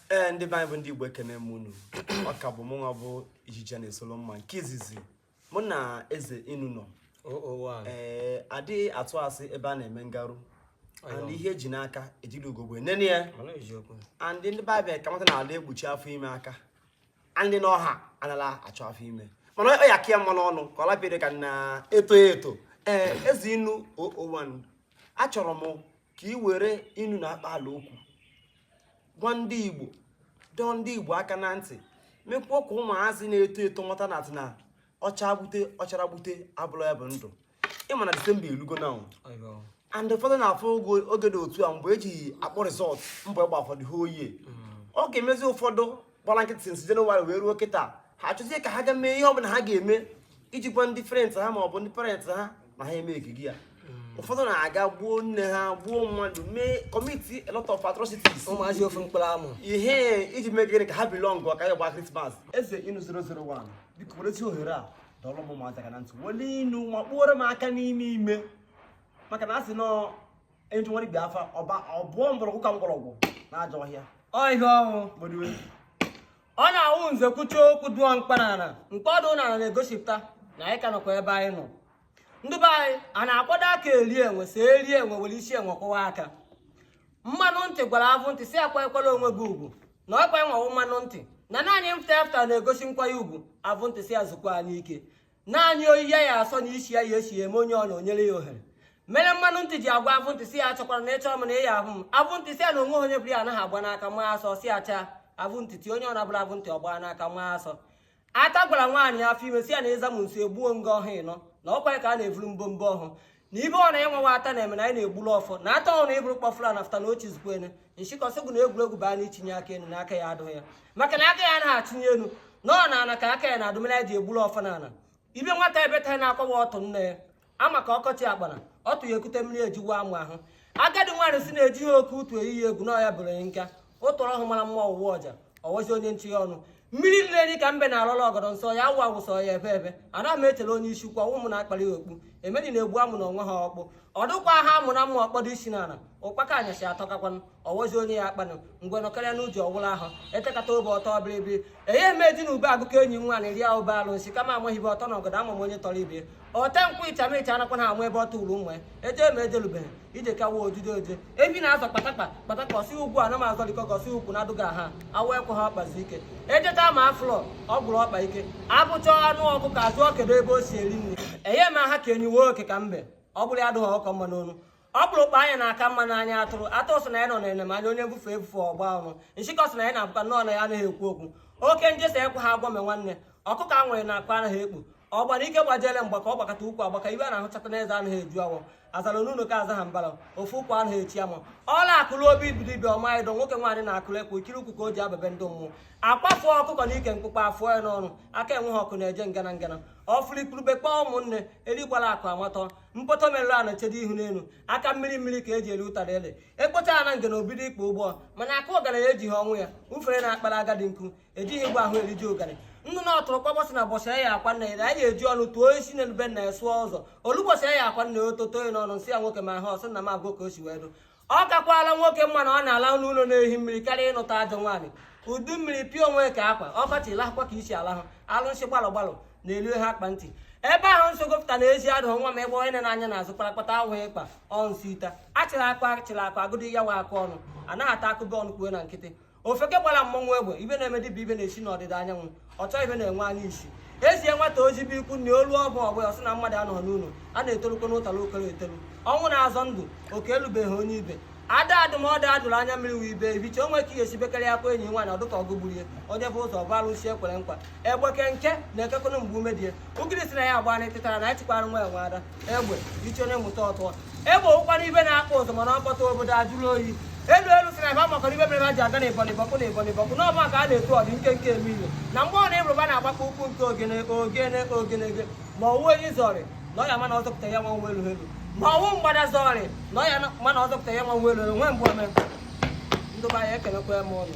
ee ndị be anyị bụ ndị igbo ekene m unu ọ ka bụ mụnwa bụ ijiji na-esolo mma nke izizi mụ na eze inu nọ ee adịghị atụ asị ebe a na-eme ngarụ and ihe eji n'aka ejirọ ugogbe enene ya and ndị be anyị ka mata na ala ekpuchi afọ ime aka ndị n'ọha anala achọ afọ ime mana ọ ya ka ya mma n'ọnụ ka ọ lapịrị ka na eto eto ee eze inu 001 achọrọ m ka ị were inu na akpaalaokwu gwa ndị igbo dọọ ndị igbo aka na ntị mekwuo ka ụmụazị na-eto eto ghọta na atị na ọ cha gbute ọ chara gbute abụrọ ya bụ ndụ ị ma na disemba elugo now and ụfọdụ na-afụ ogo oge dị otu a mgbe eji akpọ result mgbe ịgba ụfọdụ ha oyi ọ ga-emezi ụfọdụ gbara nkịtị since jenụwarị wee ruo kịta ha achọzie ka ha ga mee ihe ọbụla ha ga-eme iji gwa ndị friend ha ma ọ bụ ndị parent ha na ha emeekigo ya hmm. ụfọdụ na-aga gbuo nne ha gbuo mmadụ mee commit a lot of atrocities ụmụazị ofe mkpụrụ amụ ihe iji mee gịnị ka ha belong ka ya gba krismas eze inu 001 biko werezi ohere a dọọrọ m ụmụazị aka na ntị wele inu ma kpụoro m aka n'ime ime maka na a sị nọọ Enjụwara ibe afa ọba ọbụọ mgbọrọgwụ ka mgbọrọgwụ n'ajọ ọhịa. Ọ ihe ọhụụ. Gbodiwe. Ọ na-awụ nze kwuchaa okwu dụọ mkpa n'ala nke ọdụ n'ala na-egosipụta na anyị ka nọkwa ebe anyị nọ. Ndị be anyị a na-akwado aka eri enwe si eri enwe were isi enwe kwụwa aka. Mmanụ ntị gwara avụ ntị sị ya kwanyekwara onwe gị ugwu na ọkwa enwewo mmanụ ntị na naanị mfụta afụta na-egosi nkwanye ugwu avụ ntị sị ya zukwanụ ike. naanị oyi ya ya asọ na isi ya ya esi eme onye ọ na onyere ya ohere mere mmanụ ntị ji agwa avụ ntị sị ya achọkwara na ị chọrọ m na ị ya-ahụ m avụ ntị sị ya na onwe onye bụrụ ya anaghị agba n'aka ma asọ si acha avụ ntị ti onye ọ na-abụrụ avụ ntị ọgba n'aka ma asọ aka gwara nwaanyị afọ ime sị ya na ịza m nso egbuo nga ọhụ ị nọ na ọkwa ka a na-evuru mbombo ọhụ na ibe ọ na-enwewa ata na-eme na anyị na-egburu ọfọ na ata ọ na ịbụrụ kpọfụla na fụta na ọchị zukwa ene nchịkọsịgụ na egwuregwu baa na itinye aka enu na aka ya adụghị ya maka na aka ya anaghị achịnye enu na ọ na ana ka aka ya na adụmere ya ji egburu ọfọ na ana ibe nwata ebe taa na-akwawa ọtụ nne ya ama ka ọkọchị akpara ọtụ ya ekute mmiri ejiwa amụ ahụ agadi nwaanyị sị na ejighị oke utu eyi ya egwu na ọ ya bụrụ ya nka o tọrọ ahụ mara mma ọwụwa ọja ọwọzi onye nchi ya ọnụ mmiri nile dị ka mbe na-alọla ọgọdọ nsọ ya awụ awụ sọ ya ebe ebe ana m echere onye isi ukwu ụmụ na-akpali ya okpu emee ndị na-egbu amụ na onwe ha ọkpụ ọdụkwa ha amụ na mma ọkpọdụ isi n'ala ụkpaka anyasị atọkakwanụ ọwọzi onye ya akpanụ ngwe nọkarịa n'uji ọwụla ahụ etekata obe ọtọ biribiri enye eme di na ube agụkọ enyi nwa na eri ya ube alụsị kama amaghị ibe ọtọ na ọgọdọ ama m onye tọrọ ibe ọte nkwụ ịcha m ịcha anakwa ha amụ ebe ọ tụrụ ụmụ ya eje m ejelubeghị ije kawa odide oje ebi na-azọ kpatakpa kpatakpa ọ sị ugwu a na m azọlikọ gosi ukwu na adụghị aha awa ekwe ha ọkpazi ike ejeta ma aflọ ọ gwụrụ ọkpa ike abụcha anụ ọkụkọ azụọ kedu ebe o si eri nri enye m aha ka enyi wee oke ka mbe ọ bụrụ ya adụghị ọkọ mma n'onu ọ bụrụ ụkpa anya na-aka mma n'anya atụrụ atụ sị na ya nọ na anya onye mbufe ebufe ọgba ọrụ nshịkọ sị na ya na-abụkwa nnọọ na ya anaghị ekwu okwu oke njesa ekwe ha agwọ me nwanne ọkụkọ a nwere na akpa anaghị ekpu ọ gbara ike gbajere mgba ka ọ gbakọta ukwu agbaka ibe a na-ahụchata n'eze anaghị eju awọ azara n'ụlọ ka aza ha mbara ofu ụkwụ anaghị echi ama ọ na-akụrụ obi dibia ọma ịdọ nwoke nwaanyị na-akụrụ ekwe ikiri ụkwụ ka o ji aba be ndị mmụọ akpafu ọkụkọ na ike mkpụkpọ afụọ ya n'ọnụ aka enweghị ọkụ na-eje ngana ngana ọ fụrụ igurube kpọọ ụmụnne erigbara akụ amatọ mkpọtọ merụrụ a na-echedo ihu n'elu aka mmiri mmiri ka e ji eri ụtara ede ekpocha ya na ngana o bido ikpe ụgbọ mana aka ọgaranya ejighị ọnwụ ya ufere na-akpara agadi nkụ ejighị egwu ahụ eriji ụgarị ndụ na ọtụrụ kpọbọsị na bọsị ya akwa nna ya anyị eji ọnụ tụọ isi na elube nna ya sụọ ụzọ o lu ụbọsị ya akwa nna ya ototo ya n'ọnụ nsị ya nwoke ma ha ọsị na m agụ ka o si wee dụ ọ kakwala nwoke mma na ọ na-ala n'ụlọ na-ehi mmiri karịa ịnụta ajọ nwaanyị udu mmiri pịa onwe ka akwa ọkọchị lahụkwa ka isi alahụ alụsị gbalụ gbalụ na-elu ha akpa ntị ebe ahụ nsogbu pụta na ezi adụ nwa m ebe onye na-anya na-azụ kparakpata ahụ ịkpa ọnsị ita achịrị akpa achịrị akpa agụdị ya nwa akụ ọnụ anaghị ata a kụbe ọnụ kwuo na nkịtị ofeke gbara mmọnwụ egbe ibe na-eme dịbụ ibe na-esi n'ọdịda anyanwụ ọchọ ibe na-enwe anya isi e zie nwata ozi be ikwu na olu ọbụ ọgbụ ọsị na mmadụ anọ n'ụlọ a na-etolukọ n'ụtara okoro etolu ọnwụ na-azọ ndụ oke elubeghị onye ibe ada adụ m ọdụ adụrụ anya mmiri wee ibe ibiche onwe ka ihe sibekarị akwa enyi nwaanyị ọdụ ka ọgụ gburu ya onye bu ụzọ bu alụsị ekwere nkwa egbeke nke na-ekekọrọ mgbe ume dị ya ugiri sị na ya agba na etịtara na ya chikwara nwa enwe ada egbe iche onye mụta ọ tụọ egbe ụkwara ibe na-akpọ ụzọ mana ọ kpọta obodo ajụrụ oyi elu elu sị na ebe amakọrọ ibe mere ha ji aga na ịbọlị bọkụ na ịbọlị bọkụ na ọba ka a na-etu ọdị nke nke eme ihe na mgbe ọ na-ebụrụba na-agbakọ ụkwụ nke ogene ogene ogenege ma ọ wụ onye zọrị na ọ ya mana ọzọpụta ya nwa nwa elu elu ma ọ wụ mgbada zọrị na ọ ya mana ọzọpụta ya nwa nwa elu elu nwee mgbe ome ndụba ya ekelekwa m ụnụ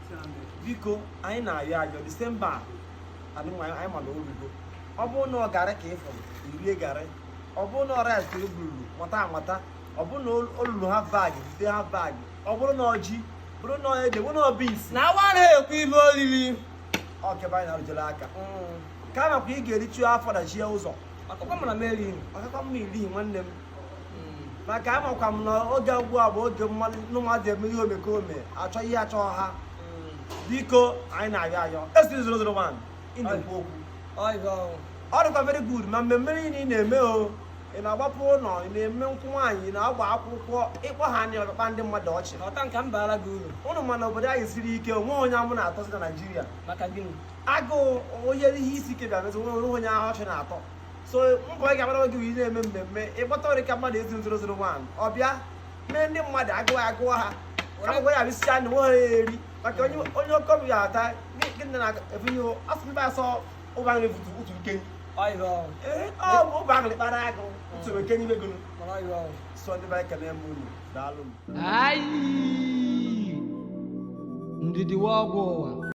biko anyị na-ayọ ayọ disemba a anyị ma na o rugo ọ bụrụ na ọ garị ka ị fụrụ i rie garị ọ bụrụ na ọ rice i bururu quarter quarter ọ bụrụ na o luru half bag bute half bag ọ bụrụ na ọ ji bụrụ na ede bụrụ na ọ beans na awa na-ekwu ibe olili ọkebe anyị na-arụjere aka mm. ka a makwa ị ga-eriju afọ dachie ụzọ ọ kakwa mma na m erighị ọ kakwa mma i righị nwanne m maka amakwa m na oge ugbu a bụ oge mmadụ eme ihe omekome achọ ihe achọ ha biko anyị na-ayọ ayọ esi 001 ị na-ekwu okwu ọ dịkwa very good ma mmemme niile ị na-eme o ị na-agbapụ ụlọ ị na-eme nkwụ nwaanyị na-agba akwụkwọ ị kpọ ha a na-akpa ndị mmadụ ọchị ọta nke m baara gị uru ụnụ ma na obodo anyị siri ike o nwe onye amụ na-atọzi na Naịjirịa maka gịnị agụụ onye ihe isi ike bịa mezi o nwe onye ahụ ọchị na-atọ so mbọ ị ga-agbara gị ị na-eme mmemme ị kpọta ọrị ka mmadụ ezi 001 ọ bịa mee ndị mmadụ agụụ agụwa ha akwụkwọ ya bisi anya nwe ha eri maka onye onye oke obi ga-ata gị na efunye asụ ndị asọ ụba nri futu utu nke ọ bụ ụba nri kpara agụ utu nke n'ime gụrụ sọ ndị be anyị ekele m unu daalụ ndidi wụ ọgwụ ụwa